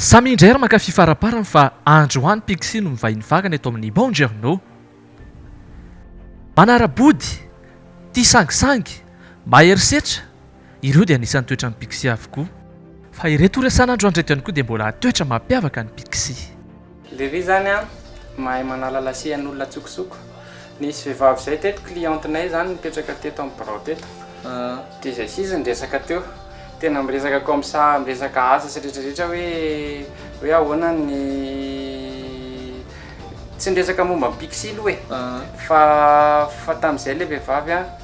Samy indray ary mankafy faraparany fa andry ho any Pixie no mivahiny vakana eto amin'ny Buongiorno. Manara-body, tia sangisangy, mahery setra, Ireo dia anisan'ny toetran'ny pixie avokoa. Fa ireto resahana andro andreto ihany koa dia mbola toetra mampiavaka ny pixie. Lery zany an, mahay manala lasihan'olona antsokosoko. Nisy vehivavy zay teto, cliente nay zany nipetraka teto amin'ny birao teto. Dia zay sisa niresaka teo. Tena miresaka comme ça, miresaka asa sy rehetra rehetra hoe, hoe ahoana ny, tsy niresaka momba ny pixie aloha e. Fa, fa tamin'izay ilay vehivavy an.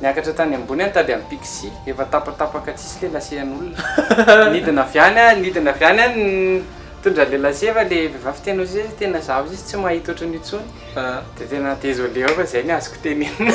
Niakatra tany ambony aho nitady an'i Pixy, efa tapatapaka tsisy le lasehan'olona. Nidina avy any aho, nidina avy any aho nitondra le lase fa le vehivavy teny eo seza tena zaho sisa tsy mahita ohatran'io intsony. Dia tena désolé aho fa izay ny azoko tenenina.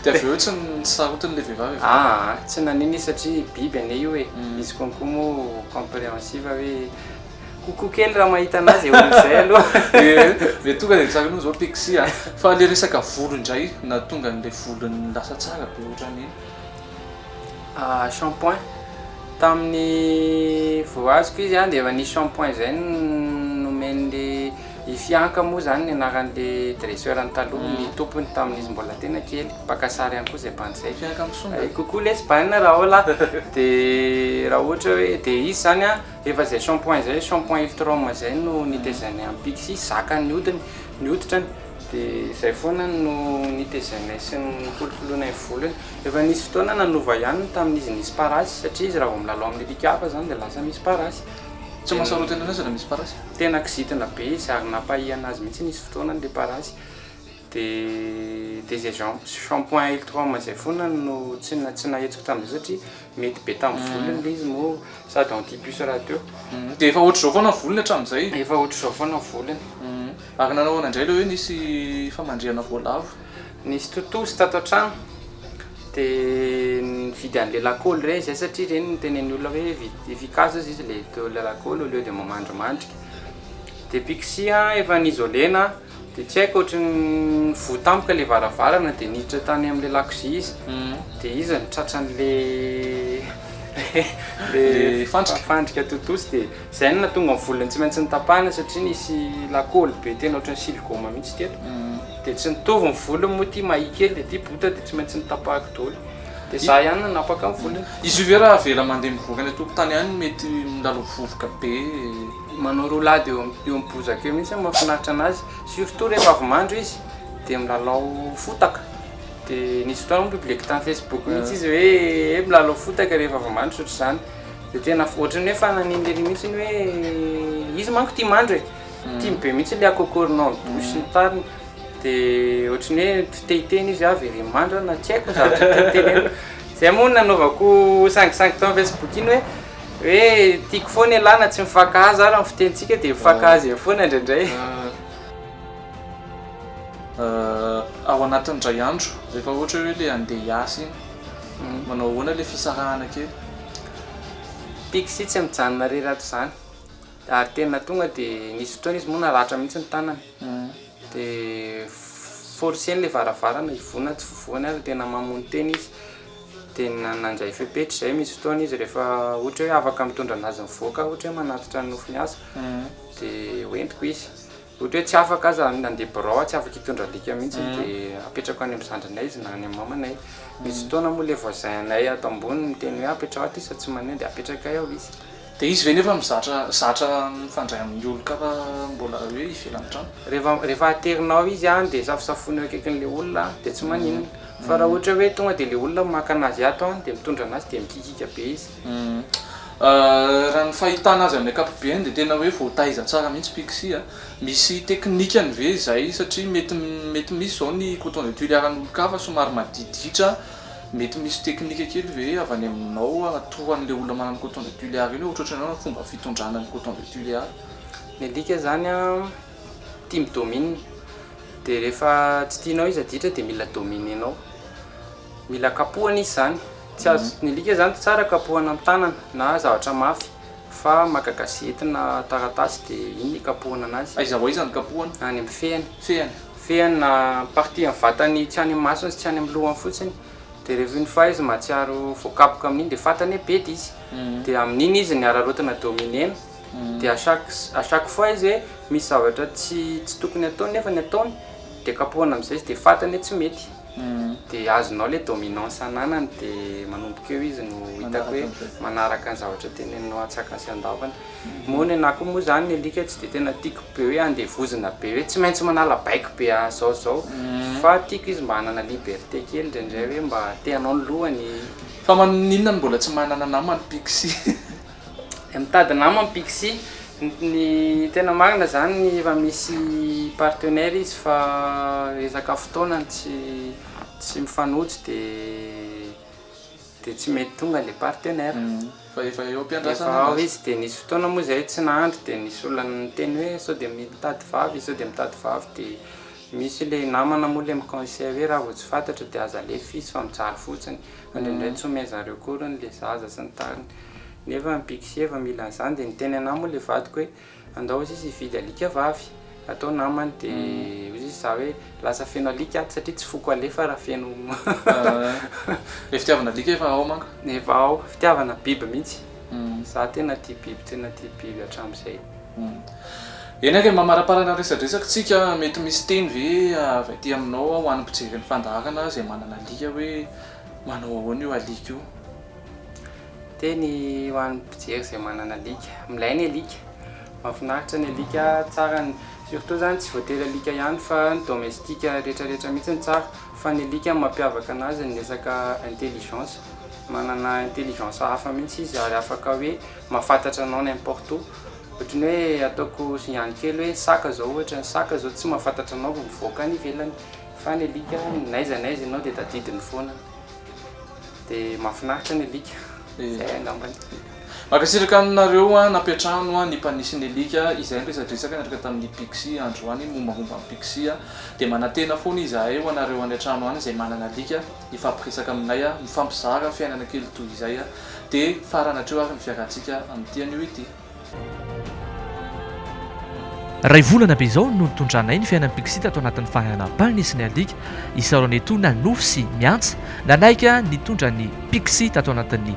Dia avy eo tsy nisarotiny le vehivavy avy eo? Aa, tsy nanino izy satria biby anie io e. Izy konko moa compréhensive hoe. Kokoa kely raha mahita anazy eo amin'izay aloha. Ee, dia tonga dia tsara noho izao Pixie a! Fa ilay resaka volo indray, nahatonga an'ilay volony lasa tsara be ohatran'iny? Ah, shampoing. Tamin'ny voaziko izy an, dia efa nisy shampoing izay nomen'ilay i Fianka moa izany ny anaran'ilay dresseur-ny taloha, ny tompony tamin'izy mbola tena kely, mpaka sary ihany koa izay bandy izay. Fianka Misonga. Coucou lesy Bana, Rahola. Dia raha ohatra hoe, dia izy izany an, Efa izay shampoing izay, shampoing Iftrome izay no nitezanay an'i Pixie, zakany ny hodiny, ny hoditrany, dia izay foana no nitezanay sy nikolokoloinay ny volony. Efa nisy fotoana nanova ihany ny tamin'izy nisy parasy, satria izy raha vao milalao amin'ny alika hafa izany dia lasa misy parasy. Tsy mahasarotiny anao izy raha misy parasy? Tena kizitina be izy ary nampahihana azy mihitsy nisy fotoana ilay parasy. Dia dia izay shampoing Iftrome izay foana no tsy nahitsiko tamin'izay satria. Mety be tamin'ny volony ilay izy moa sady anti puce rahateo. Dia efa ohatr'izao foana ny volony hatramin'izay? Efa ohatr'izao foana ny volony. Ary nanao ahoana indray ilay hoe nisy famandrihana voalavo? Nisy tontosa tato an-trano dia nividy an'ilay lakôly ireny izay satria ireny no tenenin'ny olona hoe vita efficace hozy izy ilay lakôly au lieu dia mamandrimandrika. Dia pixie efa ni-isoler-na. Dia tsy haiko ohatry ny voa tampoka ilay varavarana dia niditra tany amin'ilay lakozia izy dia izy no tratran'ilay fandrika tontosa dia izay no nahatonga ny volony tsy maintsy notapahina satria nisy lakôly be tena ohatry ny siligôma mihitsy teto dia tsy nitovy ny volony moa ity mahia kely dia ity bota dia tsy maintsy notapahiko daholo dia izaho ihany no nanapaka ny volony. Izy io ve raha avela mandeha mivoaka any an-tokotany any mety milaloha vovoka be? Manao roa lahy dia eo amin'ny bozaka eo mihitsy no mahafinaritra an'azy, surtout rehefa avy mandro izy dia milalao fotaka, dia nisy fotoana hono public tamin'ny Facebook mihitsy izy hoe eh milalao fotaka rehefa avy mandro sy ohatr'izany, dia tena ohatran'ny hoe efa nanindry an'iny mihitsy ny hoe izy manko tia mandro e, tiany be mihitsy ilay akokoro nao ny douche sy ny tariny, dia ohatran'ny hoe tsy te hiteny izy hoe aho ve ry mandro a na tsy haiko ny zavatra tiany tenenina. Zay moa nanaovako sangisangy tao am Facebook iny hoe hoe tiako foana ialahy na tsy mifankahazo ara ny fitenintsika dia mifankahazo ihany foana indraindray. Ao anatin'ny indray andro rehefa ohatra hoe le andeha hiasa iny manao ahoana le fisarahana kely? Pixy tsy mijanona rery ato zany ary tena tonga de nisy fotoana izy moa naratra mihitsy ny tanany. Dia forcer ilay varavarana hivoana tsy voany ary tena mamono tena izy dia nandray fepetra izay misy fotoana izy rehefa ohatra hoe afaka mitondra an'azy mivoaka ohatra hoe manatitra ny nofony aza dia ho entiko izy ohatra hoe tsy afaka aza nandeha birao aho tsy afaka hitondra alika mihintsy dia apetrako any amin'ny zandrinay izy na any amin'ny mamanay misy fotoana moa ilay voisin anay ato ambony miteny hoe apetraho aty sady tsy maneho dia apetrakay ao izy Dia izy ve nefa mizatra zatra mifandray amin'ny olon-kafa mbola hoe ivelan'ny trano? Rehefa rehefa aterinao izy any dia safosafoiny eo akaikin'ilay olona any dia tsy maninona fa raha ohatra hoe tonga dia ilay olona maka anazy ato any dia mitondra anazy dia mikikiaka be izy. Raha ny fahitana azy amin'ny ankapobeny dia tena hoe voataiza tsara mihitsy Pixie a! Misy teknikany ve izay satria mety mety misy izao ny coton de tuiles iharan'olon-kafa somary maditiditra. Mety misy teknika kely ve avy any aminao toa an'ilay olona manana coton de Tuléar iny hoe ohatrohatry ny hoe fomba fitondrana ny coton de Tuléar? Ny alika zany an tia mi domine dia rehefa tsy tianao izy adiditra dia mila dominer-nao mila kapohana izy zany tsy azo ny alika zany tsara kapohana amin'ny tanana na zavatra mafy Fa maka gazety na taratasy de inona ikapohana anazy? Aiza ho aiza no kapohana? Any amin'ny fehiny. Fehiny? Fehiny na partie amin'ny vatany tsy any amin'ny masony sy tsy any amin'ny lohany fotsiny. De rehefa une fois izy mahatsiaro voakapoka amin'iny de fantany hoe bedy izy. De amin'iny izy ny hararaotina dominer-ny. De à chaque à chaque fois izy hoe misy zavatra tsy tsy tokony ataony nefa ny ataony de kapohana amin'izay izy de fantany hoe tsy mety. de azonao le dominance ananany de manomboka eo izy no hitako hoe manaraka ny zavatra teneninao antsakany sy andavany moa ny anah koa moa zany ny alika tsy de tena tiako be hoe andevozina be hoe tsy maintsy manala baiko be ah zao zao fa tiako izy mba hanana liberté kely indraindray hoe mba te hanao ny lohany fa maninona no mbola tsy manana namana pixie. Mitady nama ny Pixi. Ny tena marina zany efa misy partenaire izy fa resaka fotoana no tsy tsy mifanojo de de tsy mety tonga le partenaire. Fa efa eo am-piandrasana izy. Efa ao izy de nisy fotoana moa zay tsy nahandry de nisy olona niteny hoe sao de mitady vavy sao de mitady vavy de. Misy le namana moa le mi-conseil hoe raha vao tsy fantatra dia aza alefa f'izy fa mijaly fotsiny, fa indraindray tsy omen zareo akoriny le zaza sy ny tariny. Nefa ny pic sy heva mila an'izany dia niteny anah moa le vadiko hoe andao ozy izy hividy alika vavy atao namany de ozy izy za hoe lasa feno alika ato satria tsy foko alefa raha feno. Ilay fitiavana alika efa ao manko. Efa ao, fitiavana biby mihitsy. Za tena tia biby tena tia biby hatramzay. Eny ary mamaraparana ny resadresaka tsika, mety misy teny ve avy aty aminao ho an'ny mpijery ny fandaharana izay manana alika hoe manao ahoana io alika io? Teny ho an'ny mpijery izay manana alika, milay ny alika, mahafinaritra ny alika, tsara ny surtout zany tsy voatery alika ihany fa ny domestique retraretra mihitsy no tsara, Fa ny alika mampiavaka anazy ny resaka intelligence, manana intelligence hafa mihitsy izy ary afaka hoe mahafantatra anao n'importe où, ohatry ny hoe ataoko signal kely hoe saka zao ohatra, ny saka zao tsy mahafantatra anao vao mivoaka any ivelany fa ny alika n'aiza n'aiza ianao dia tadidiny foana, dia mahafinaritra ny alika, zay angambany. Mankasitraka aminareo nampiantrano ny mpanisy ny alika izay niresadresaka niaraka tamin'ny Pixy androany mombamomba an'i Pixy dia manantena foana izahay ho anareo any antrano any izay manana alika hifampiresaka aminay mifampizara fiainana kely toy izay dia farany hatreo ary ny fiarahantsika amin'ity anio ity. Iray volana be izao no nitondranay ny fiainan'i Pixy tato anatin'ny fahana mpanisy ny alika isaoranay toa nanofy sy miantsa nanaiky nitondra an'i Pixy tato anatin'ny